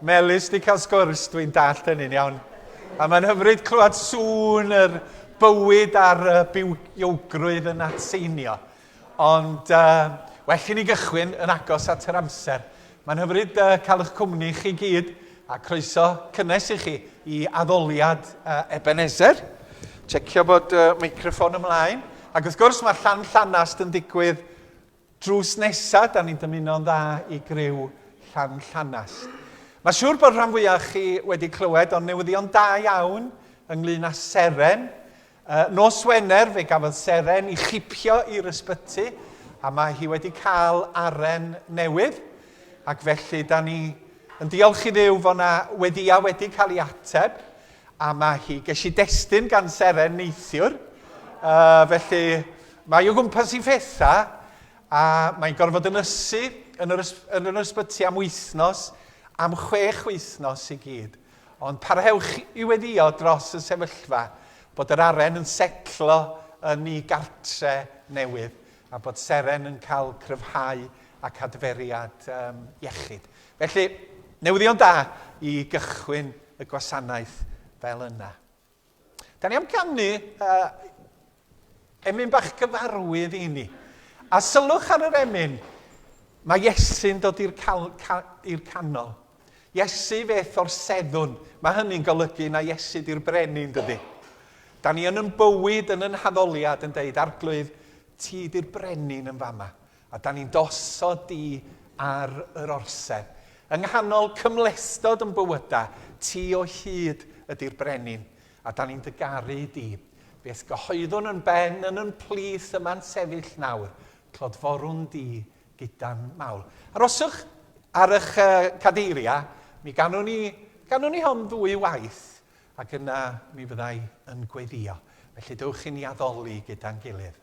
Melis di cael sgwrs, dwi'n dallt hynny'n iawn. A mae'n hyfryd clywed sŵn yr bywyd a'r uh, bywiogrwydd yn atseinio. Ond uh, well i ni gychwyn yn agos at yr amser. Mae'n hyfryd uh, cael eich cwmni chi gyd a croeso cynnes i chi i addoliad uh, Ebenezer. Checio bod uh, microfon ymlaen. Ac wrth gwrs mae llan llanast yn digwydd Drws nesa, da ni'n dymuno'n dda i griw Llanllanast. Mae siŵr bod rhan fwyaf o chi wedi clywed o'n newyddion da iawn ynglyn â Seren. Uh, nos Wener fe gafodd Seren i chipio i'r ysbyty a mae hi wedi cael aren newydd ac felly da ni yn diolch i ddew fod yna weddiau wedi cael ei ateb. A mae hi. Ges i destun gan Seren neithiwr, uh, felly mae o gwmpas i fetha, a mae'n gorfod yn ysu yn yr, yn yr ysbyty am wythnos, am chwech wythnos i gyd. Ond parhewch i weddio dros y sefyllfa bod yr aren yn setlo yn ei gartre newydd a bod Seren yn cael cryfhau ac adferiad um, iechyd. Felly, newyddion da i gychwyn y gwasanaeth fel yna. Da ni am ganu uh, emyn bach gyfarwydd i ni. A sylwch ar yr emyn, mae Iesu'n dod i'r ca canol. Iesu feth o'r seddwn. Mae hynny'n golygu na Iesu di'r brenin, dydy. Da ni yn yn bywyd, yn yn haddoliad, yn deud, arglwydd, ti di'r brenin yn fama. A dan ni'n dosod di ar yr orsedd. Yng nghanol cymhlethdod yn bywyda, ti o hyd ydi'r brenin, a dan ni'n dy garu di. Beth gyhoeddwn yn ben yn yn plith yma'n sefyll nawr, clodforwn di gyda'n mawl. Aroswch ar ych cadeiriau, mi ganwn ni, ganwn ni hon ddwy waith. Ac yna mi fydda i yn gweddïo. Felly dewch i ni addoli gyda'n gilydd.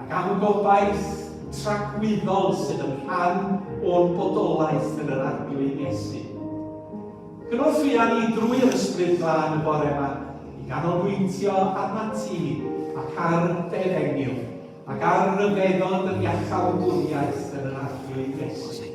ac am gobaith tragwyddol sydd yn rhan o'n bodolaeth yn yr Arglwydd Iesu. Cynwr fuan ni drwy'r Ysbryd Glân y bore yma i ganolbwyntio arna ti ac ar dy efengyl ac ar ryfeddod yr iachawdwriaeth yn yr Arglwydd Iesu.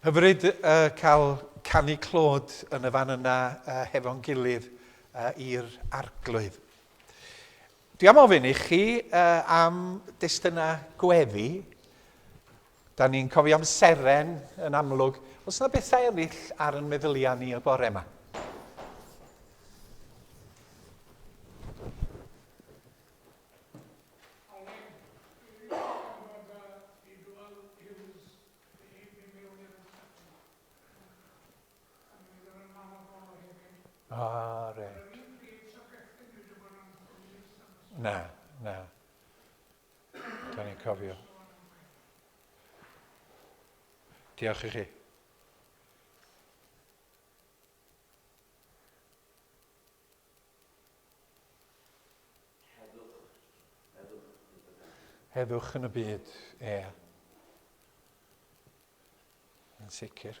Hyfryd uh, cael canu clod yn y fan yna uh, hefo'n gilydd uh, i'r arglwydd. Dwi am ofyn i chi uh, am destunau gweddi, Da ni'n cofio am seren yn amlwg. Os yna bethau eraill ar yn meddyliau ni y bore yma? Ah, reit. Na, na. Da ni'n cofio. Diolch i chi. Heddwch yn y byd, ie. Yn sicr.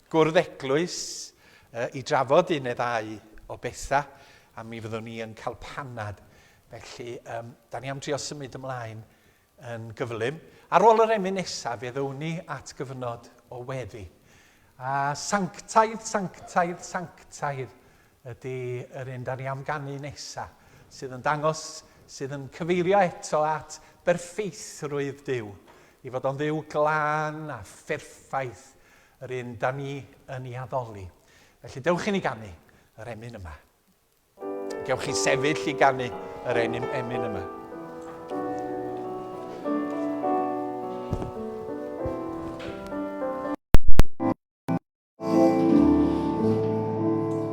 Gwrdd Eglwys i drafod un neu ddau o bethau a mi fyddwn ni yn cael panad. Felly, um, da ni am drio symud ymlaen yn gyflym. Ar ôl yr emyn nesaf, fe ddown ni at gyfnod o weddi. A sanctaidd, sanctaidd, sanctaidd ydy yr un da ni am ganu nesaf, sydd yn dangos, sydd yn cyfeirio eto at berffeithrwydd Dyw, i fod o'n ddiw glân a pherffaith, Yr un 'da ni yn ei addoli. Felly dewch i ni ganu yr emyn yma. Gewch chi sefyll i ganu yr enyn emyn yma.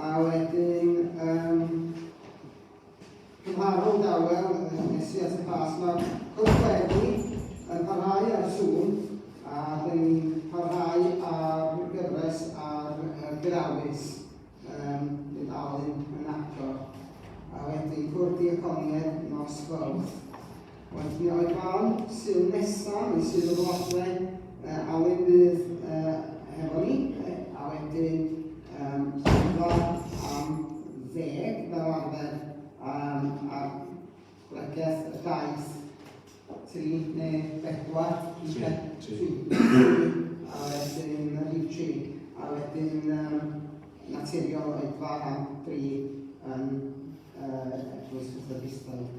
A wedyn, um, cymharol dawel, nes i at y pas, mae'r cwrs wedi yn parhau ar y sŵn, a dyn ni'n parhau ar gyfres ar y grawys, um, yn dal yn agor. A wedyn cwrdd diaconiaid nos fawrth. Felly, o'i fam, Sul nesa, mae Sul y Flatle, uh, a wedyn bydd uh, hefo ni, a wedyn um, pedwar am ddeg fel arfer, um, a bregeth y daith tri neu bedwar, tri, tri, a wedyn y rhif tri, a wedyn um, naturiol oedd fara tri yn uh, eglwys Methodistaidd.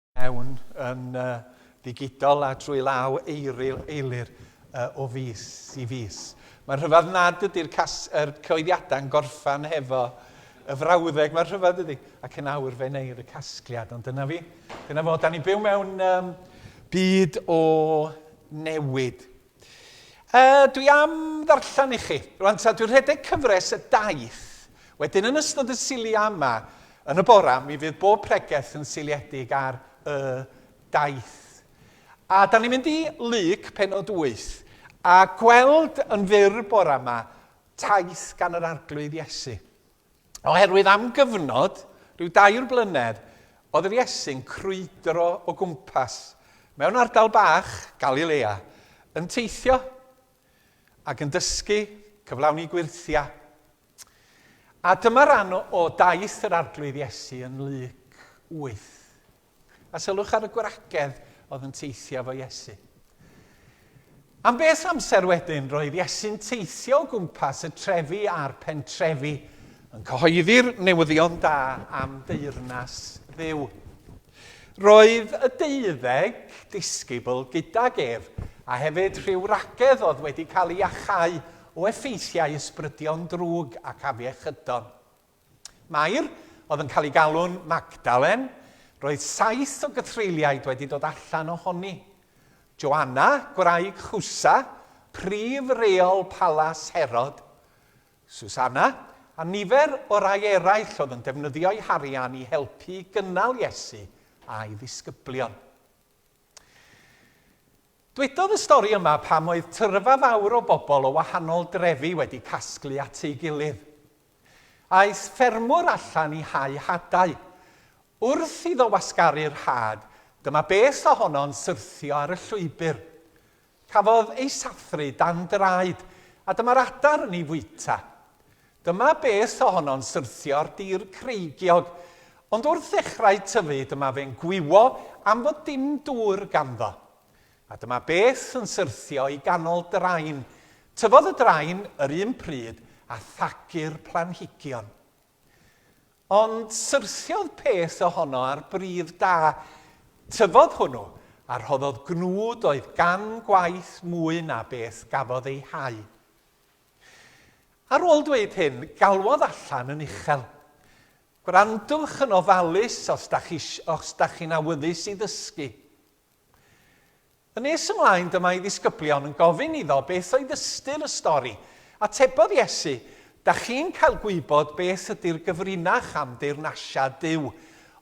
mewn yn ddigidol a drwy law eiri eilir o fis i fis. Mae'n rhyfedd nad ydy'r er cyhoeddiadau'n gorffan hefo y frawddeg, mae'n rhyfedd dydy, ac yn awr fe wneir y casgliad, ond dyna fi, dyna fo, da ni'n byw mewn um, byd o newid. Yy, dwi am ddarllen i chi. Rwan ta, dwi'n rhedeg cyfres y daith. Wedyn yn ystod y silia yma, yn y bora, mi fydd bob pregeth yn seiliedig ar y daith. A da ni'n mynd i Luc, penod 8, a gweld yn fyr bora yma taith gan yr Arglwydd Iesu. Oherwydd am gyfnod, rhyw dair blynedd, oedd yr Iesu'n crwydro o gwmpas mewn ardal bach, Galilea, yn teithio ac yn dysgu, cyflawni gwyrthia. A dyma ran o daith yr Arglwydd Iesu yn Luc 8. A sylwch ar y gwragedd oedd yn teithio efo Iesu. Am beth amser wedyn, roedd Iesu'n teithio o gwmpas y trefi a'r pentrefi, yn cyhoeddi'r newyddion da am deyrnas dduw. Roedd y deuddeg disgybl gydag ef, a hefyd rhyw wragedd oedd wedi cael ei achau o effeithiau ysbrydion drwg ac afiechydon. Mair, oedd yn cael ei galw'n Magdalen, roedd saith o gythreuliaid wedi dod allan ohoni. Joanna, gwraig Chusa, prif reol palas Herod. Susanna, a nifer o rai eraill oedd yn defnyddio'u harian i helpu i gynnal Iesu a'i ddisgyblion. Dwedodd y stori yma pam oedd tyrfa fawr o bobl o wahanol drefi wedi casglu at ei gilydd. Aeth ffermwr allan i hau hadau. Wrth iddo wasgaru'r had, dyma beth ohono'n syrthio ar y llwybr. Cafodd ei sathru dan draed, a dyma'r adar yn ei fwyta. Dyma beth ohono'n syrthio'r dir creigiog, ond wrth ddechrau tyfu dyma fe'n gwywo am fod dim dŵr ganddo. A dyma beth yn syrthio i ganol drain. Tyfodd y drain yr un pryd a thagu'r planhigion. Ond syrthiodd peth ohono ar bridd da. Tyfodd hwnnw, a rhoddodd gnwd oedd gan gwaith mwy na beth gafodd ei hau. Ar ôl dweud hyn, galwodd allan yn uchel. Gwrandwch yn ofalus os da chi, os da chi'n awyddus i ddysgu. Yn nes ymlaen, dyma ei ddisgyblion yn gofyn iddo beth oedd ystyr y stori. Atebodd Iesu, Da chi'n cael gwybod beth ydy'r gyfrinach am deyrnasia Duw,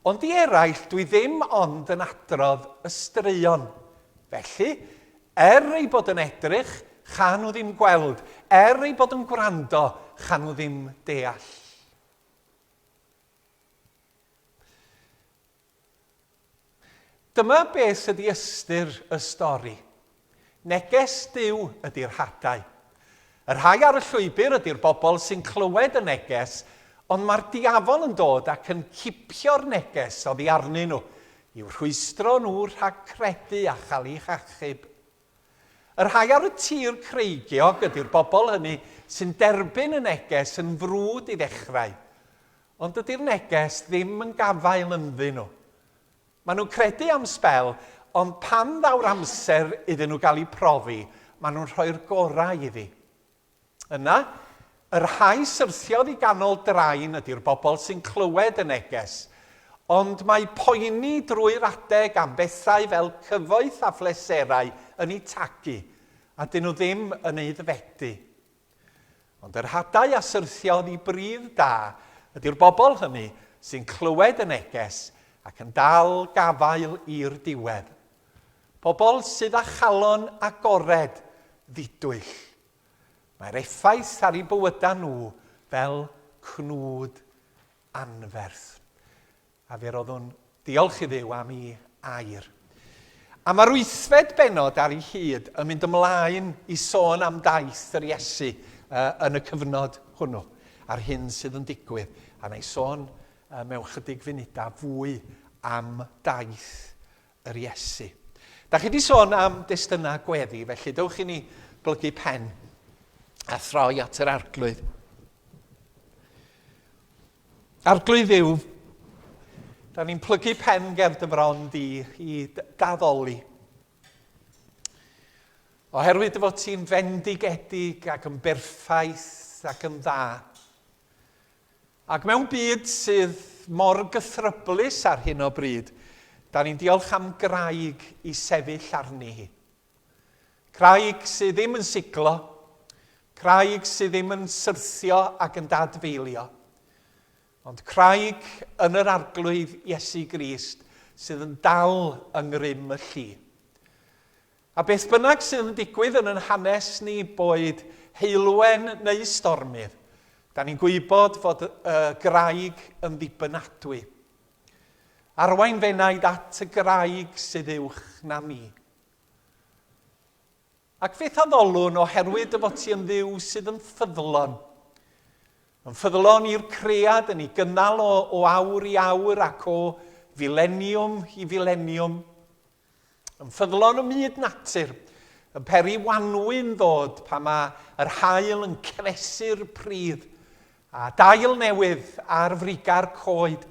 ond i eraill dwi ddim ond yn adrodd y straeon. Felly, Er ei bod yn edrych, cha nhw ddim gweld, er ei bod yn gwrando, cha nhw ddim deall. Dyma beth sydd ydi ystyr y stori. Neges Duw ydy'r hadau. Y rhai ar y llwybr ydy'r bobl sy'n clywed y neges, ond mae'r diafol yn dod ac yn cipio'r neges oddi arnyn nhw, i'w rhwystro nhw rhag credu a chael eu hachub. Y rhai ar y tir creigiog ydy'r bobl hynny sy'n derbyn y neges yn frwd i ddechrau, ond dydy'r neges ddim yn gafael ynddyn nhw. Maen nhw'n credu am sbel, ond pan ddaw'r amser iddyn nhw gael eu profi, maen nhw'n rhoi'r gorau iddi. Yna, y rhai syrthiodd i ganol drain ydy'r bobl sy'n clywed y neges, ond mae poeni drwy'r adeg am bethau fel cyfoeth a phleserau yn eu tagu, a 'dyn nhw ddim yn aeddfedu. Ond yr hadau a syrthiodd i bridd da ydy'r bobl hynny sy'n clywed y neges ac yn dal gafael i'r diwedd. Pobl sydd â chalon agored ddidwyll. Mae'r effaith ar eu bywydau nhw fel cnwd anferth. A fe roddwn diolch i Dduw am i air. A mae'r wythfed benod ar ei hyd yn mynd ymlaen i sôn am daith yr Iesu uh, yn y cyfnod hwnnw, a'r hyn sydd yn digwydd. A na i sôn uh, mewn chydig funudau fwy am daith yr Iesu. Da chi wedi sôn am destunau gweddi, felly dewch i ni blygu pen a throi at yr arglwydd. Arglwydd yw, da ni'n plygu pen ger dy fron di i daddoli. Oherwydd dy fod ti'n fendigedig ac yn berffaith ac yn dda. Ac mewn byd sydd mor gythryblus ar hyn o bryd, da ni'n diolch am graig i sefyll arni hi. Craig sydd ddim yn siglo, craig sydd ddim yn syrthio ac yn dadfeilio, ond craig yn yr Arglwydd Iesu Grist sydd yn dal yng ngrym y llu. A beth bynnag sydd yn digwydd yn yn hanes ni, boed heulwen neu stormydd, da ni'n gwybod fod y graig yn ddibynadwy. Arwain f'enaid at y graig sydd uwch na mi. Ac fyth addolwn oherwydd dy fod ti yn ddiw sydd yn ffyddlon. Yn ffyddlon i'r cread yn ei gynnal o, o awr i awr ac o fileniwm i fileniwm. Yn ffyddlon ym myd natur, yn peri wanwyn ddod pan mae yr hael yn cefesu'r pridd, a dail newydd ar friga'r coed,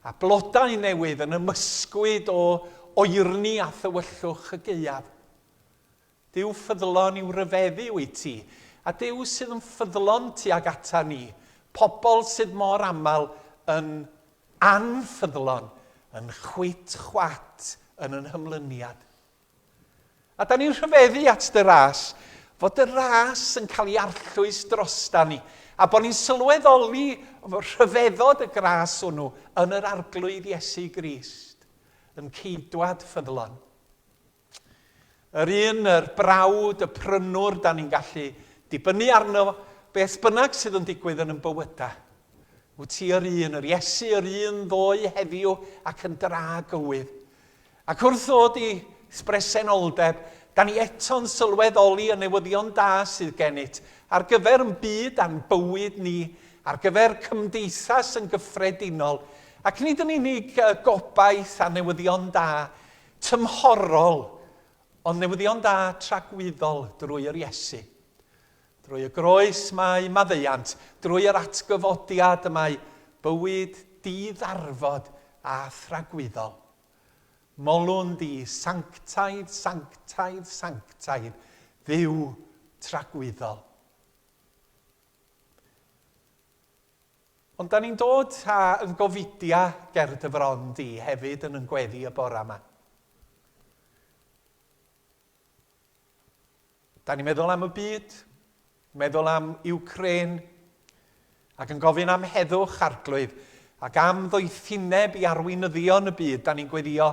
a blodau newydd yn ymysgwyd o oerni a thywyllwch y gaeaf. Duw ffyddlon i'w ryfeddu wyt ti, a Duw sydd yn ffyddlon tuag ata ni, pobl sydd mor aml yn anffyddlon, yn chwit chwat yn yn hymlyniad. A 'da ni'n rhyfeddu at dy ras, fod dy ras yn cael ei arllwys drostan ni, a bod ni'n sylweddoli rhyfeddod y gras hwnnw yn yr Arglwydd Iesu Grist, yn ceidwad ffyddlon. Yr un, yr brawd, y prynwr, da ni'n gallu dibynnu arno beth bynnag sydd yn digwydd yn yn bywydau. Wyt ti yr un, yr Iesu, yr un ddoe heddiw ac yn dra gywydd. Ac wrth ddod i bresenoldeb, da ni eto'n sylweddoli y newyddion da sydd gennyt ar gyfer ein byd a'n bywyd ni, ar gyfer cymdeithas yn gyffredinol, ac nid yn unig y gobaith a newyddion da tymhorol, ond newyddion da tragwyddol drwy yr Iesu. Drwy y groes mae maddeuant, drwy yr atgyfodiad y mae bywyd di-ddarfod a thragwyddol. Molwn di, sanctaidd, sanctaidd, sanctaidd, Dduw tragwyddol. Ond da ni'n dod a yn gofidia ger dy fron di hefyd yn yn gweddi y bora yma. Da ni'n meddwl am y byd, meddwl am Ukraine, ac yn gofyn am heddwch, arglwydd, ac am ddoethineb i arweinyddion y byd. Da ni'n gweddio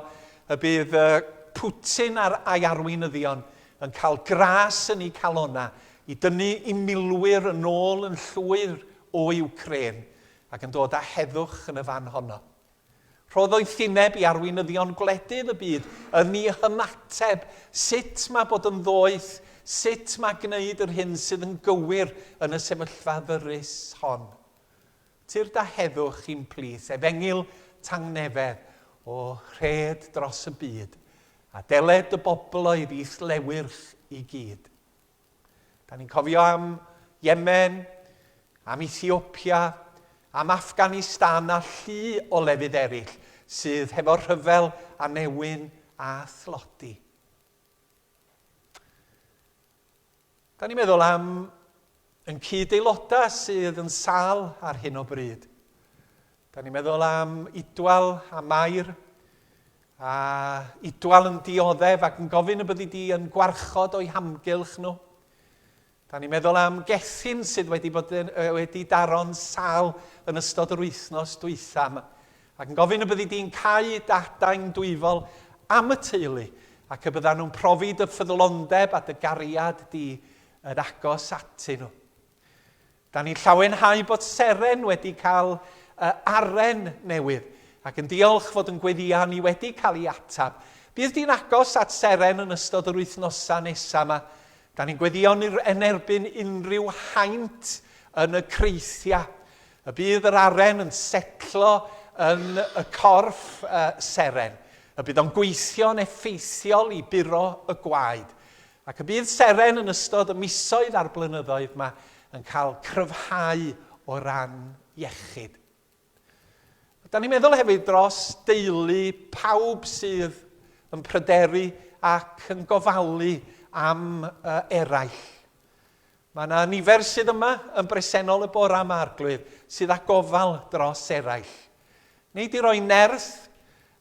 y bydd Putin ar a'i arweinyddion yn cael gras yn eu calona i dynnu i milwyr yn ôl yn llwyr o Ukraine ac yn dod â heddwch yn y fan honno. Rhodd oethineb i arweinyddion gwledydd y byd yn i hymateb, sut mae bod yn ddoeth, sut mae gwneud yr hyn sydd yn gywir yn y sefyllfa ddyrus hon. Tir da heddwch i'n plith, efengyl tangnefedd o rhed dros y byd, a deled y bobloedd i'th lewyrch i gyd. Da ni'n cofio am Yemen, am Ethiopia, am Afghanistan a llu o lefydd eraill sydd hefo rhyfel a newyn a thlodi. Da ni'n meddwl am yn cyd-aelodau sydd yn sal ar hyn o bryd. Da ni'n meddwl am Idwal a Mair, a Idwal yn dioddef ac yn gofyn y byddi di yn gwarchod o'i hamgylch nhw. Da ni'n meddwl am Gethin sydd wedi, bod yn, wedi daro'n sal yn ystod yr wythnos dwytham ac yn gofyn y byddi di'n cau dadain dwyfol am y teulu ac y byddan nhw'n profi dy ffyddlondeb a dy gariad di yn agos atyn nhw. Da ni'n llawenhau bod Seren wedi cael y aren newydd ac yn diolch fod yn gweddïau ni wedi cael ei ateb. Bydd di'n agos at Seren yn ystod yr wythnosau nesaf yma. Da ni'n gweddïo ni'r yn erbyn unrhyw haint yn y creithiau. Y bydd yr aren yn setlo yn y corff uh, Seren. Y bydd o'n gweithio'n effeithiol i buro y gwaed. Ac y bydd seren yn ystod y misoedd a'r blynyddoedd yma yn cael cryfhau o ran iechyd. Da ni'n meddwl hefyd dros deulu pawb sydd yn pryderu ac yn gofalu am eraill. Mae yna nifer sydd yma yn bresennol y bore yma, Arglwydd, sydd â gofal dros eraill. Wnei di roi nerth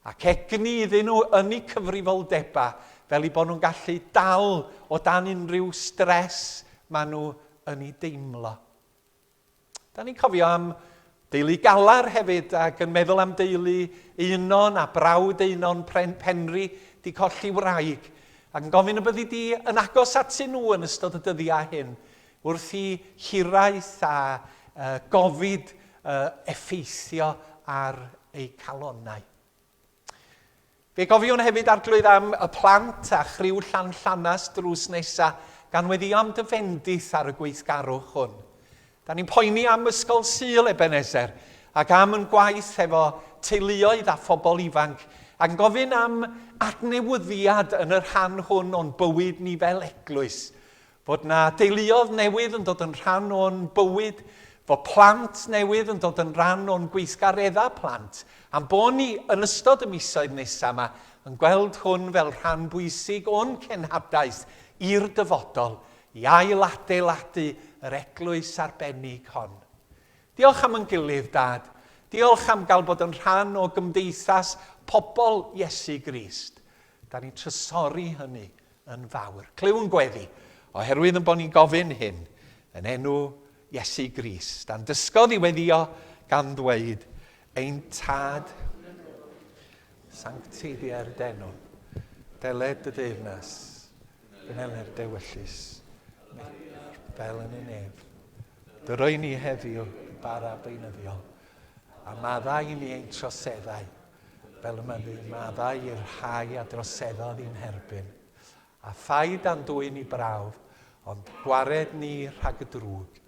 ac egni iddyn nhw yn eu cyfrifoldebau fel i bod nhw'n gallu dal o dan unrhyw stres maen nhw yn ei deimlo. Da ni'n cofio am deulu galar hefyd ac yn meddwl am deulu Eunon a brawd Eunon Pren Penri di colli wraig ac yn gofyn y byddi di yn agos atyn nhw yn ystod y dyddiau hyn wrth i hiraeth a uh, gofid uh, effeithio ar eu calonnau. Fe gofiwn hefyd arglwydd am y plant a chriw Llan Llanas drws nesa gan weddio am dy fendith ar y gweithgarwch hwn. Da ni'n poeni am Ysgol Sul Ebenezer ac am yn gwaith efo teuluoedd a phobl ifanc ac yn gofyn am adnewyddiad yn y rhan hwn o'n bywyd ni fel eglwys. fod 'na deuluodd newydd yn dod yn rhan o'n bywyd, fod plant newydd yn dod yn rhan o'n gweithgareddau plant, a'n bod ni yn ystod y misoedd nesaf yma yn gweld hwn fel rhan bwysig o'n cenhadaeth i'r dyfodol, i ail-adeiladu yr eglwys arbennig hon. Diolch am yn gilydd, Dad. Diolch am gael bod yn rhan o gymdeithas pobl Iesu Grist. Da ni'n trysori hynny yn fawr. Clywn gweddi, oherwydd yn bod ni'n gofyn hyn yn enw Iesu Grist, a'n dysgodd i weddio gan ddweud, ein tad, sancti dier denwn, deled dy deyrnas, gynneler dewyllus, fel yn y nef. Dy roi ni heddiw bara beunyddiol, a maddau i ni ein troseddau, fel y mae maddau i'r rhai a droseddodd i'n herbyn, a thai dan dwyn i brawf, ond gwared ni rhag y drwg,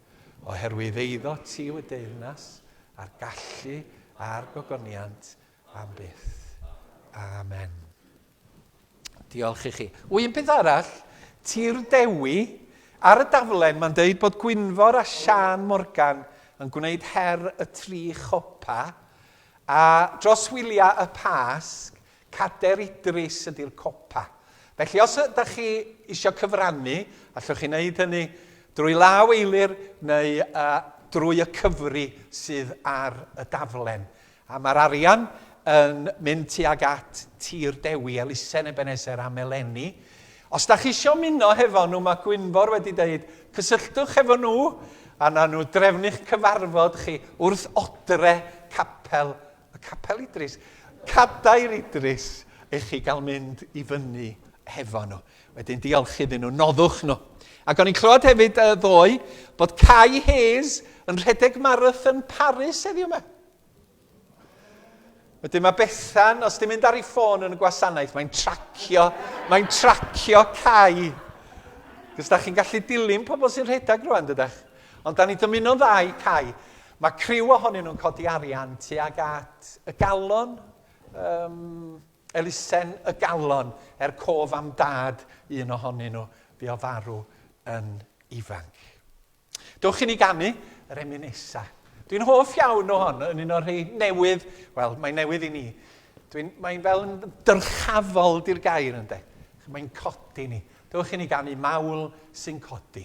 oherwydd eiddo ti yw y deyrnas, a'r gallu, a'r gogoniant, am byth. Amen. Diolch i chi. O, un peth arall, Tir Dewi, ar y daflen mae'n deud bod Gwynfor a Sian Morgan yn gwneud her y tri chopa, a dros wyliau y Pasg, Cader Idris ydy'r copa. Felly os ydych chi eisiau cyfrannu, allwch chi wneud hynny drwy law eilir neu uh, drwy y cyfri sydd ar y daflen. A mae'r arian yn mynd tuag at Tir Dewi, elusen Ebeneser am eleni. Os da chi isio muno hefo nhw, mae Gwynfor wedi dweud, cysylltwch hefo nhw a na nhw drefnu'ch cyfarfod chi wrth odre capel, y Capel Idris, Cadair Idris, i chi gael mynd i fyny hefo nhw. Wedyn diolch iddyn nhw, noddwch nhw. Ac o'n i'n clywed hefyd y ddoe bod Kai Hayes yn rhedeg marathon Paris heddiw yma. Wedyn mae Bethan, os ti'n mynd ar ei ffôn yn y gwasanaeth, mae'n tracio, mae'n tracio cau. Cos da chi'n gallu dilyn pobl sy'n rhedeg rwan, dydych. Ond da ni dymuno'n dda i cau. Mae criw ohonyn nhw'n codi arian tuag at y galon, um, elusen y galon, er cof am dad un ohonyn nhw, fi o farw yn ifanc. Dewch i ni ganu yr eminesa. Dwi'n hoff iawn o hon, yn un o'r rhai newydd, wel, mae'n newydd i ni. Mae'n fel yn dyrchafol di'r gair ynddo. Mae'n codi ni. Dewch i ni ganu mawl sy'n codi.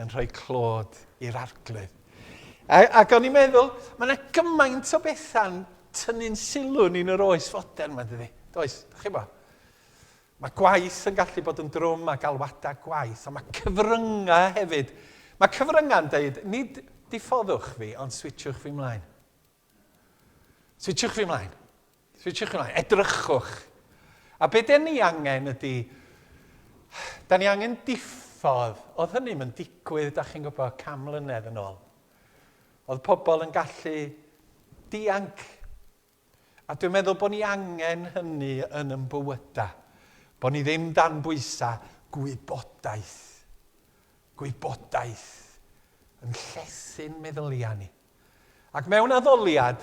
yn rhoi clod i'r arglwydd. A, ac o'n i'n meddwl, mae yna gymaint o bethau'n tynnu'n sylw ni'n yr oes fodern yma, dydy? Does, da chi bo? Mae gwaith yn gallu bod yn drwm a galwadau gwaith, ond mae cyfryngau hefyd. Mae cyfryngau'n dweud, nid diffoddwch fi, ond switchwch fi mlaen. Switchwch fi ymlaen. Switchwch fi ymlaen. Edrychwch. A be den ni angen ydy... Da ni angen diffodd. Oedd hynny yn digwydd, da chi'n gwybod, cam mlynedd yn ôl. Oedd pobl yn gallu dianc. A dwi'n meddwl bod ni angen hynny yn yn bywydau. Bod ni ddim dan bwysau gwybodaeth. Gwybodaeth yn llesu'n meddyliau ni. Ac mewn addoliad,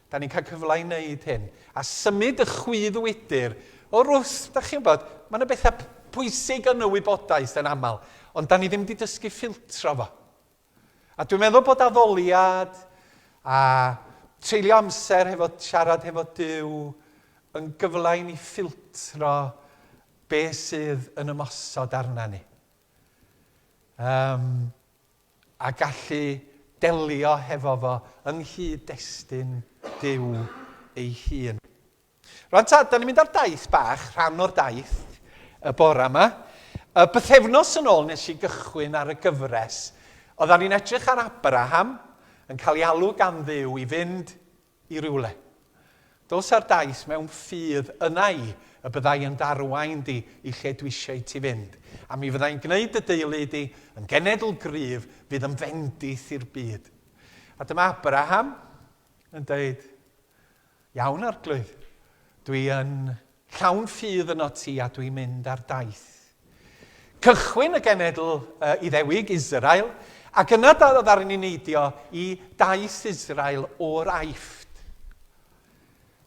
da ni'n cael cyfle i wneud hyn, a symud y chwydd wydr o rwth, da chi'n bod, mae yna bethau pwysig yn y wybodaeth yn aml, ond da ni ddim wedi dysgu ffiltro fo. A dwi'n meddwl bod addoliad a treulio amser hefo siarad hefo Dyw yn gyfle i ni ffiltro be sydd yn ymosod arna ni. Um, a gallu delio hefo fo yng nghyd-destun Duw ei hun. Rwan ta, da ni'n mynd ar daith bach, rhan o'r daith, y bora yma. Y bythefnos yn ôl nes i gychwyn ar y gyfres, oeddan ni'n edrych ar Abraham, yn cael ei alw gan dduw i fynd i rywle. Dos a'r daith mewn ffydd yna i y byddai yn darwain di i lle dw'isieu ti fynd, a mi fyddai'n gneud dy deulu di yn genedl gryf fydd yn fendith i'r byd. A dyma Abraham yn deud, Iawn, Arglwydd, dwi yn Llawn ffydd yno ti a dwi'n mynd ar daith. Cychwyn y genedl uh, Iddewig, Israel, ac yna ddaru ni neidio i daith Israel o'r aifft.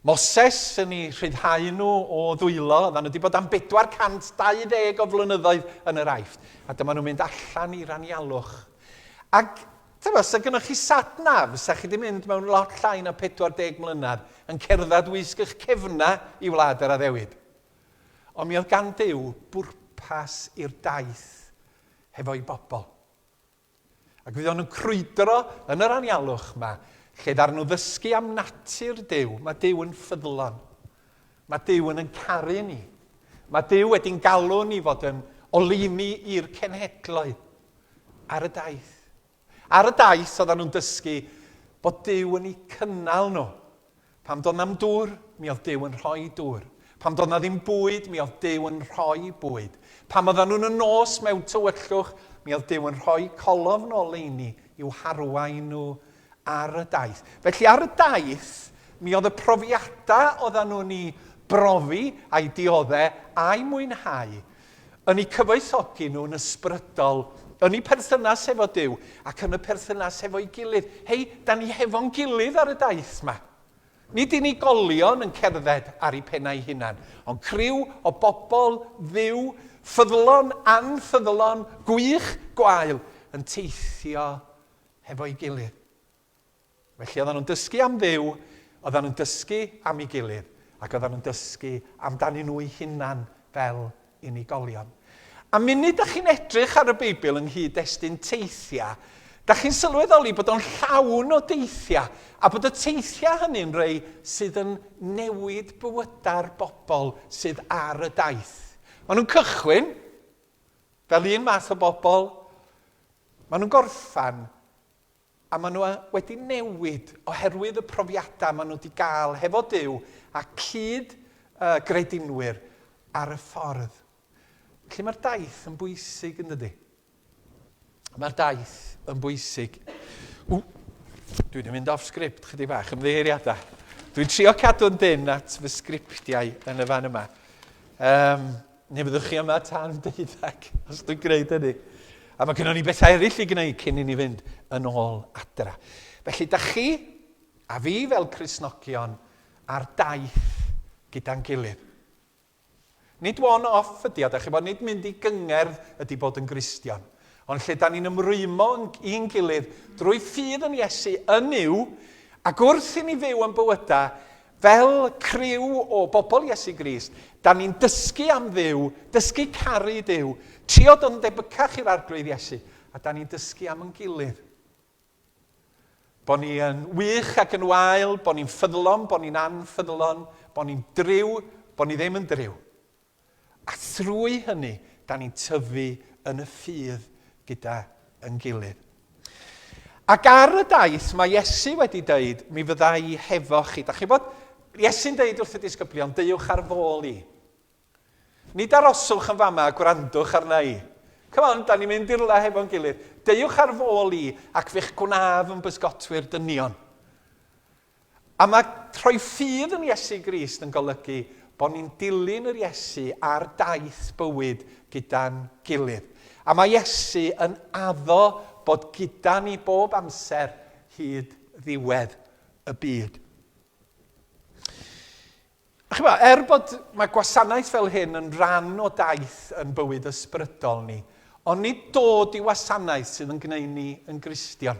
Moses yn ei rhyddhau nhw o ddwylo, oedden nhw wedi bod am 420 o flynyddoedd yn yr aifft, a dyma nhw'n mynd allan i'r anialwch. Ac Tybed, os oes gennych chi sat nav, fysa chi wedi mynd mewn lot llai na 40 mlynedd, yn cerdded wisg eich cefnau i wlad yr addewid. Ond mi oedd gan Duw bwrpas i'r daith hefo'i bobl. Ac fuon nhw'n crwydro yn yr anialwch yma, lle ddaru nhw ddysgu am natur Duw. Mae Duw yn ffyddlon. Mae Duw yn yn caru ni. Mae Duw wedi'n galw ni fod yn oleuni i'r cenhedloedd. Ar y daith. Ar y daith oedden nhw'n dysgu bod Duw yn eu cynnal nhw. Pam doedd na'm dŵr, mi oedd Duw yn rhoi dŵr. Pam doedd na ddim bwyd, mi oedd Duw yn rhoi bwyd. Pam oedden nhw'n y nos mewn tywyllwch, mi oedd Duw yn rhoi colofn o leini i'w harwain nhw Ar y daith. Felly ar y daith, mi oedd y profiadau oeddan nhw'n i brofi, a'i diodde, a'i mwynhau, yn i cyfoethogi nhw'n ysbrydol, yn i perthynas hefo Duw, ac yn y perthynas hefo'i gilydd. Hei, da ni hefo'n gilydd ar y daith 'ma. Nid unigolion yn cerdded ar i pennau hunan, ond criw o bobl Dduw, ffyddlon, anffyddlon, gwych, gwael, yn teithio hefo'i gilydd. Felly oedden nhw'n dysgu am Dduw, oedden nhw'n dysgu am ei gilydd, ac oedden nhw'n dysgu amdanyn nhw eu hunan fel unigolion. A munud da chi'n edrych ar y Beibl yng nghyd-destun teithiau, da chi'n sylweddoli bod o'n llawn o deithiau, a bod y teithiau hynny'n rhai sydd yn newid bywydau'r bobl sydd ar y daith. Maen nhw'n cychwyn fel un math o bobl, Maen nhw'n gorffen a maen nhw wedi newid oherwydd y profiadau maen nhw wedi gael hefo Duw a cyd uh, gredinwyr ar y ffordd. Felly mae'r daith yn bwysig yn dydy. Mae'r daith yn bwysig. W, dwi wedi mynd off sgript chydig bach, ymddeiriadau. Dwi'n trio cadw'n dyn at fy sgriptiau yn y fan yma. Um, Neu byddwch chi yma tan deuddeg, os dwi'n gwneud hynny. A mae gennym ni bethau eraill i gwneud cyn i ni fynd yn ôl adra. Felly, da chi a fi fel Crisnogion ar daith gyda'n gilydd. Nid one off ydy o, da chi bod, nid mynd i gyngerdd ydy bod yn Gristion. Ond lle da ni'n ymrwymo i'n gilydd drwy ffydd yn Iesu yn yw, ac wrth i ni fyw yn bywydau Fel criw o bobl Iesu Grist, da ni'n dysgu am Dduw, dysgu caru Duw, trio dod yn debycach i'r Arglwydd Iesu, a da ni'n dysgu am yn gilydd. Bo ni yn wych ac yn wael, bo ni'n ffyddlon, bo ni'n anffyddlon, bo ni'n driw, bo ni ddim yn driw. A thrwy hynny, da ni'n tyfu yn y ffydd gyda yn gilydd. Ac ar y daith, mae Iesu wedi dweud, mi fydda i hefo chi. Da chi bod, Iesu'n dweud wrth y disgyblion, deuwch ar fôl i. Nid aroswch yn fama a gwrandwch arna i. Come on, da ni'n mynd i'r le hefo'n gilydd. Deuwch ar fôl i ac fe'ch gwnaf yn bysgotwyr dynion. A mae rhoi ffydd yn Iesu Grist yn golygu bod ni'n dilyn yr Iesu ar daith bywyd gyda'n gilydd. A mae Iesu yn addo bod gyda ni bob amser hyd ddiwedd y byd. A chi'n gwybod, er bod mae gwasanaeth fel hyn yn rhan o daith yn bywyd ysbrydol ni, ond nid dod i wasanaeth sydd yn gwneud ni yn Gristion.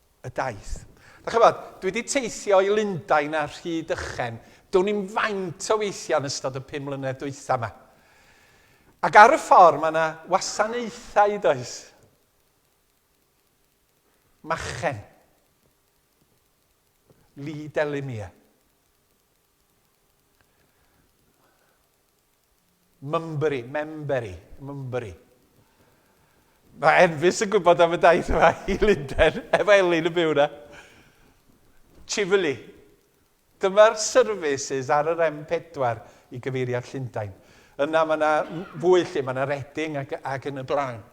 y daith. Dach chybod, dwi wedi teithio i Lundain a Rhydychen, do'n i'n faint o weithiau yn ystod y pum mlynedd dwytha yma. Ac ar y ffordd mae yna wasanaethau does. Machen. Lee Delimia. Mymbyri, memberi, mymbyri. Mae Enfys yn gwybod am y daith yma i Lunden, efo Elin yn byw yna. Chifili. Dyma'r services ar yr M4 i gyfeirio at Llundain. Yna mae yna fwy lle, mae yna Reading ac, ac yn y blaen.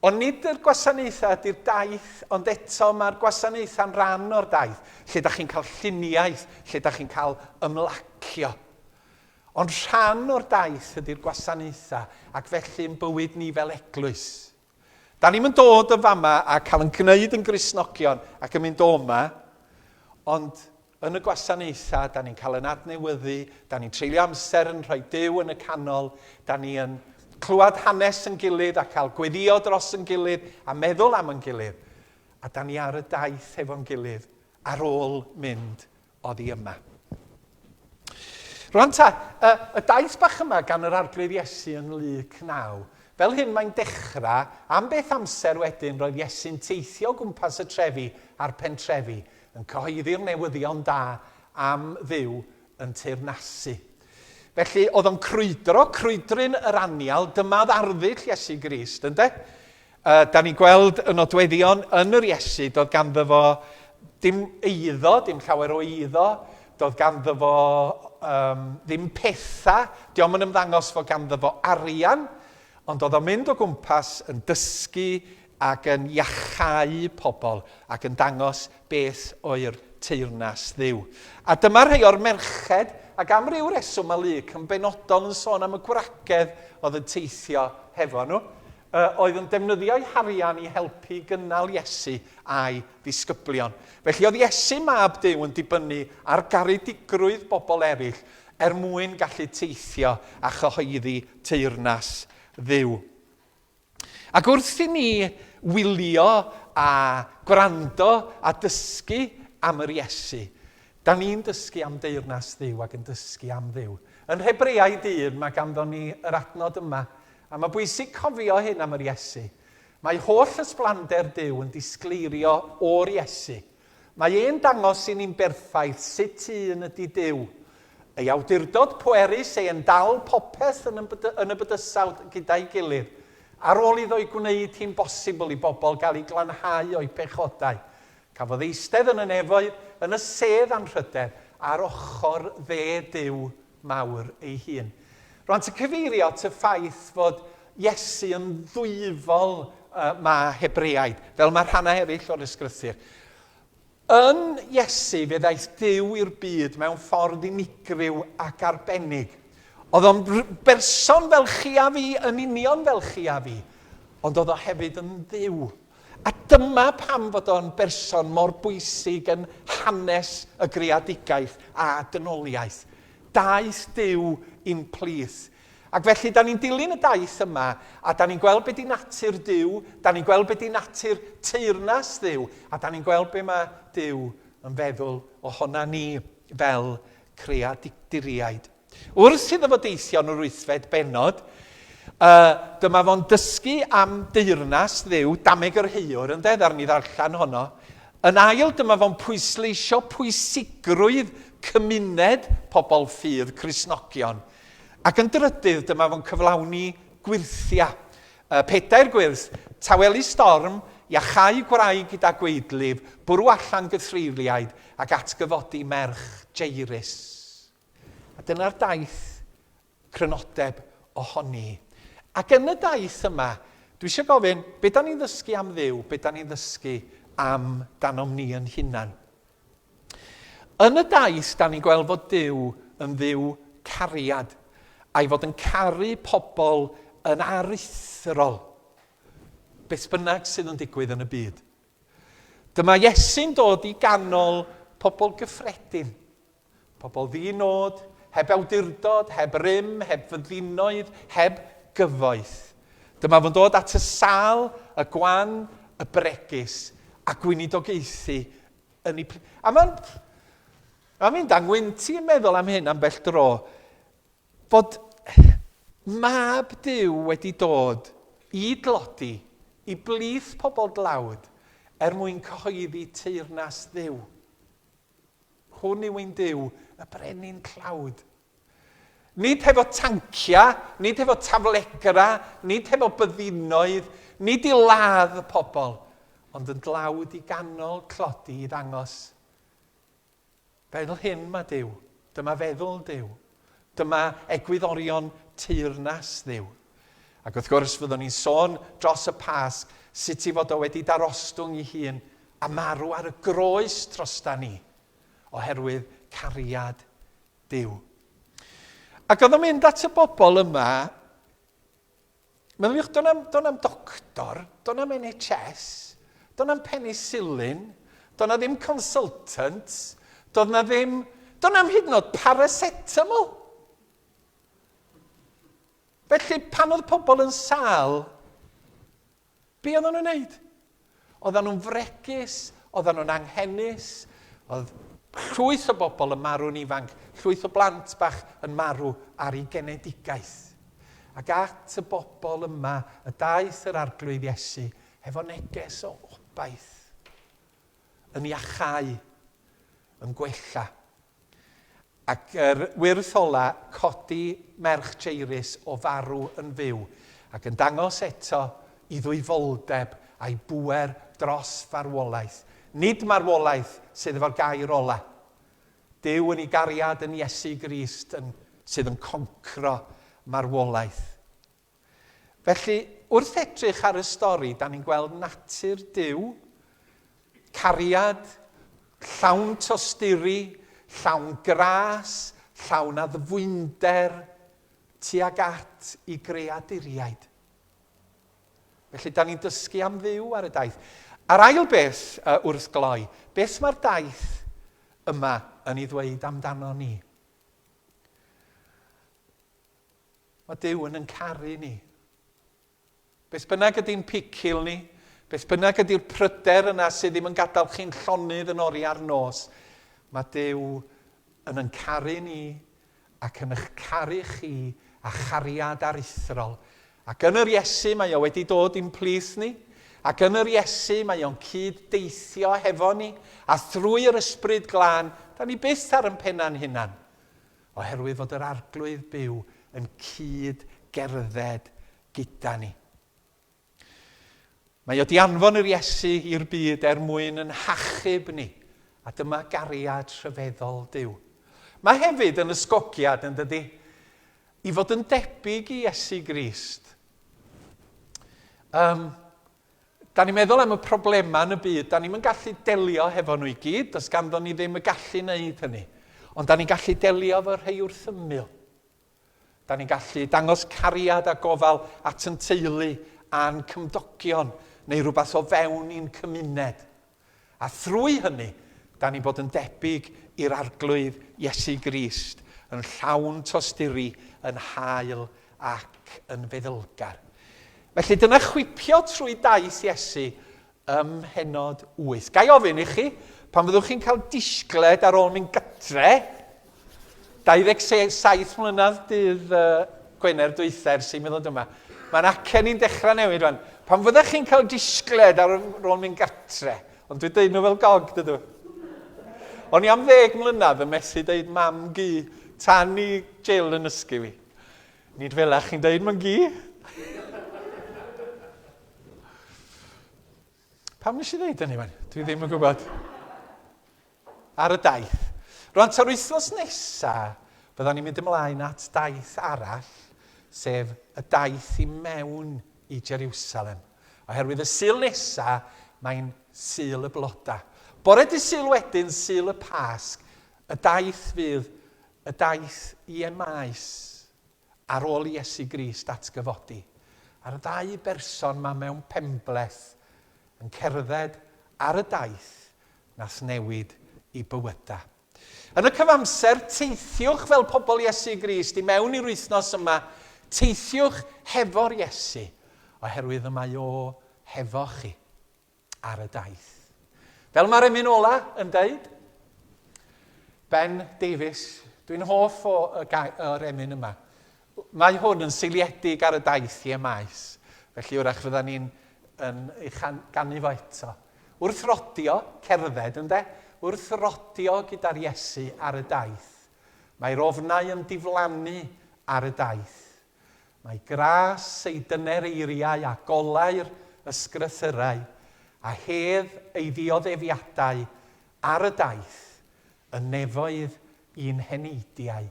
Ond nid yr gwasanaethau ydy'r daith, ond eto mae'r gwasanaethau'n rhan o'r daith, lle da chi'n cael lluniaeth, lle da chi'n cael ymlacio. Ond rhan o'r daith ydy'r gwasanaethau, ac felly yn bywyd ni fel eglwys. Da ni'm yn dod yn fama a cael yn gwneud yn Gristnogion ac yn mynd o'ma, ond Yn y gwasanaethau, da ni'n cael yn adnewyddu, da ni'n treulio amser yn rhoi Duw yn y canol, da ni yn clywed hanes yn gilydd a cael gweddio dros yn gilydd a meddwl am yn gilydd, a da ni ar y daith hefo'n gilydd ar ôl mynd oddi yma. Rwan ta, y, y daith bach yma gan yr arglwydd Iesu yn Luc 9, fel hyn mae'n dechrau, am beth amser wedyn roedd Iesu'n teithio gwmpas y trefi a'r pentrefi, yn cyhoeddi'r newyddion da am fyw yn teyrnasu. Felly, oedd o'n crwydro, crwydryn yr anial, dyma oedd arddull Iesu Grist, ynde? Uh, da ni'n gweld y nodweddion yn yr Iesu, doedd ganddo fo dim eiddo, dim llawer o eiddo, doedd ganddo fo um, ddim pethau, diolch yn ymddangos fod ganddo fo arian, ond oedd o'n mynd o gwmpas yn dysgu ac yn iachau pobl ac yn dangos beth oedd teyrnas Dduw. A dyma rhai o'r merched, ac am ryw reswm mae Luc yn benodol yn sôn am y gwragedd oedd yn teithio hefo nhw, oedd yn defnyddio'u harian i helpu i gynnal Iesu a'i ddisgyblion. Felly oedd Iesu, Mab Duw, yn dibynnu ar garedigrwydd bobl eraill er mwyn gallu teithio a chyhoeddi teyrnas Dduw. Ac wrth i ni wylio a gwrando a dysgu am yr Iesu, da ni'n dysgu am deyrnas Dduw ac yn dysgu am Dduw. Yn Hebreaid 1 mae ganddon ni yr adnod yma, a mae bwysig cofio hyn am yr Iesu. Mae holl ysblander Duw yn disgleirio o'r Iesu. Mae e'n dangos i ni'n berffaith sut un ydi Duw. Ei awdurdod pwerus ei yn dal popeth yn yn y bydysawd gyda'i gilydd, ar ôl iddo'i gwneud hi'n bosibl i bobl gael eu glanhau o'u pechodau. Cafodd eistedd yn y nefoedd, yn y sedd anrhydedd, ar ochr dde Duw. mawr ei hun. Rŵan, ti'n cyfeirio at y ffaith fod Iesu yn ddwyfol y mae Hebreaid, fel mae rhannau eraill o'r Ysgrythur. Yn Iesu fe ddaeth Duw i'r byd mewn ffordd unigryw ac arbennig. Oedd o'n berson fel chi a fi, yn union fel chi a fi, ond oedd o hefyd yn dduw. A dyma pam fod o'n berson mor bwysig yn hanes y greadigaeth a dynoliaeth. Daeth Duw i'n plith. Ac felly, da ni'n dilyn y daith yma, a da ni'n gweld be di natur Duw, da ni'n gweld be di natur teyrnas Dduw, a da ni'n gweld be mae Duw yn feddwl ohona ni fel creaduriaid. Wrth iddo fo deithio yn yr wythfed bennod, y, dyma fo'n dysgu am deyrnas Dduw, dameg yr haeor, yn de, ddaru ni ddarllen honno. Yn ail, dyma fo'n pwysleisio pwysigrwydd cymuned pobl ffydd, Cristnogion. Ac yn drydydd, dyma fo'n cyflawni gwyrthia. Y, pedair gwyrth, tawelu storm, iachau gwraig gyda gweidlif, bwrw allan gythreiriaid, ac atgyfodi merch Jairus. A dyna'r daith crynodeb ohoni. Ac yn y daith yma, dwi eisiau gofyn, be da ni'n ddysgu am ddiw? Be da ni'n ddysgu am danom ni yn hunan? Yn y daith, da ni'n gweld fod Dyw yn ddiw cariad, a'i fod yn caru pobl yn aruthrol, beth bynnag sydd yn digwydd yn y byd. Dyma Iesu'n dod i ganol pobl gyffredin. Pobl ddi-nod, heb awdurdod, heb rym, heb fyddinoedd, heb gyfoeth. Dyma fo'n dod at y sâl, y gwan, y bregus, a gweinidogaethu yn ei... A mae'n... A fi'n dangwynti yn meddwl am hyn am bell dro, bod mab Dyw wedi dod i dlodi i blith pobl dlawd er mwyn cyhoeddi teyrnas Dduw. Hwn yw ein Duw, y Brenin Tlawd. Nid hefo tanciau, nid hefo taflegra, nid hefo byddinoedd, nid i ladd y pobl, ond yn dlawd i ganol tlodi i ddangos. Fel hyn mae Duw, dyma feddwl Duw, Dyma egwyddorion teyrnas Dduw. Ac wrth gwrs, fyddwn ni'n sôn dros y Pasg sut ei fod o wedi darostwng ei hun a marw ar y groes trostan ni, oherwydd cariad Duw. Ac oedd o'n mynd at y bobl yma Meddyliwch, do'n am, do am doctor, do'n am NHS, do'n am penicillin, do'n ddim consultant, do'n na ddim, do'n am hyd yn oed paracetamol. Felly, pan oedd pobl yn sal, Be oedden nhw'n wneud? Oedden nhw'n fregus, oedden nhw'n anghenus, oedd llwyth o bobl yn marw'n ifanc, llwyth o blant bach yn marw ar ei genedigaeth. Ac at y bobl yma y daeth yr Arglwydd Iesu hefo neges o obaith, yn iachau, yn gwella Ac yr wyrth ola codi merch Jairus o farw yn fyw, ac yn dangos eto i ddwyfoldeb a'i bŵer dros farwolaeth. Nid marwolaeth sydd efo'r gair ola. Duw yn ei gariad yn Iesu Grist yn sydd yn concro marwolaeth. Felly, wrth edrych ar y stori, da ni'n gweld natur Duw, cariad, llawn tosturi, llawn gras, llawn addfwynder, tuag at i greaduriaid. Felly, da ni'n dysgu am ddiw ar y daith. A'r ail beth uh, wrth gloi, beth mae'r daith yma yn ei ddweud amdano ni? Mae Duw yn yn caru ni. Beth bynnag ydy'n picil ni, beth bynnag ydy'r pryder yna sydd ddim yn gadael chi'n llonydd yn ori ar nos, mae Duw yn yn caru ni ac yn eich caru chi a chariad aruthrol. Ac yn yr Iesu mae o wedi dod i'n plith ni, ac yn yr Iesu mae o'n cyd deithio hefo ni, a thrwy yr ysbryd glân, da ni byth ar yn penna'n hunan. Oherwydd fod yr Arglwydd byw yn cyd gerdded gyda ni. Mae o di anfon yr Iesu i'r byd er mwyn yn hachub ni, a dyma gariad rhyfeddol Dyw. Mae hefyd yn ysgogiad, yn dydy, i fod yn debyg i Iesu Grist. Um, Da ni'n meddwl am y problemau yn y byd, da ni'm yn gallu delio hefo nhw i gyd, does ganddo ni ddim y gallu wneud hynny. Ond da ni'n gallu delio efo rhai wrth ymyl. Da ni'n gallu dangos cariad a gofal at yn teulu a'n cymdogion neu rhywbeth o fewn i'n cymuned. A thrwy hynny, da ni'n bod yn debyg i'r Arglwydd Iesu Grist, yn llawn tosturi, yn hael ac yn feddylgar. Felly, dyna chwipio trwy daith Iesu ym mhennod wyth. Ga i ofyn i chi, pan fyddwch chi'n cael disgled ar ôl mynd gytre, 27 mlynedd dydd Gwener dwytha ers i mi ddod yma. Mae'n acen ni'n dechrau newid rwan. Pan fyddech chi'n cael disgled ar ôl mynd gartre, ond dwi'n deud nhw fel gog, dydw. O'n i am ddeg mlynedd yn methu deud mam gu tan i Jill yn ysgu fi. Nid fel ach chi'n deud mae'n gu. Pam nes i ddeud hynny, man? Dwi ddim yn gwybod. ar y daith. Rwan ta'r wythnos nesa, byddan ni'n mynd ymlaen at daith arall, sef y daith i mewn i Jeriwsalem. Oherwydd y Sul nesa, mae'n Sul y Bloda. Bore dy Sul wedyn, Sul y Pasg, y daith fydd y daith i Emaus. ar ôl i Iesu Grist ddatgyfodi, a'r ddau berson 'ma mewn penbleth yn cerdded ar y daith nath newid i bywyda. Yn y cyfamser, teithiwch fel pobl Iesu Grist i mewn i'r wythnos yma, teithiwch hefo'r Iesu, oherwydd y mae O hefo chi. ar y daith. Fel mae'r emyn ola yn dweud, Ben Davies, dwi'n hoff o y o'r emyn yma. Mae hwn yn seiliedig ar y daith i emaes, felly wrach fydda ni'n yn ei ganu fo eto. Wrth rodio, cerdded ynde, wrth rodio gyda'r Iesu ar y daith. Mae'r ofnau yn diflannu ar y daith. Mae gras ei dyner eiriau a golau'r ysgrythyrau a hedd ei ddioddefiadau ar y daith, y nefoedd i'n heneidiau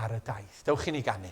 ar y daith. Dewch i ni ganu.